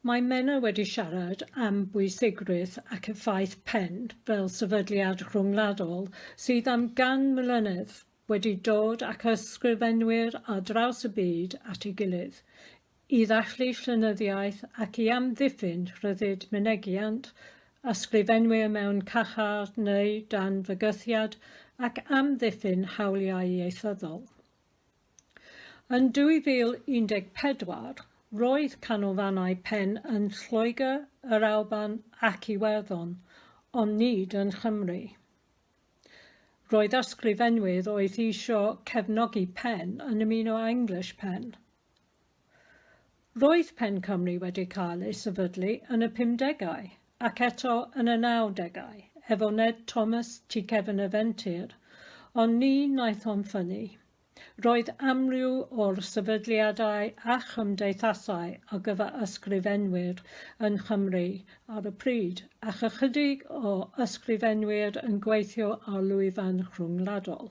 Mae Menna wedi siarad am bwysigrwydd ac effaith pen fel sefydliad rhyngwladol sydd am gan mlynedd wedi dod ac ysgrifenwyr ar draws y byd at ei gilydd i ddathlu llenyddiaeth ac i amddiffyn rhyddid mynegiant ysgrifenwyr mewn carchar neu dan fygythiad ac amddiffyn hawliau ieithyddol. Yn 2014, roedd canolfannau pen yn Lloegr, yr Alban ac Iwerddon, ond nid yn Nghymru. Roedd ysgrifenwyr oedd eisiau cefnogi pen yn ymuno â English Pen. Roedd Pen Cymru wedi cael ei sefydlu yn y pumdegau ac eto yn y nawdegau efo Ned Thomas tu cefn y fentir, ond ni wnaeth hon ffynnu. Roedd amryw o'r sefydliadau a chymdeithasau ar gyfer ysgrifenwyr yng Nghymru ar y pryd, ac ychydig o ysgrifenwyr yn gweithio ar lwyfan rhyngwladol.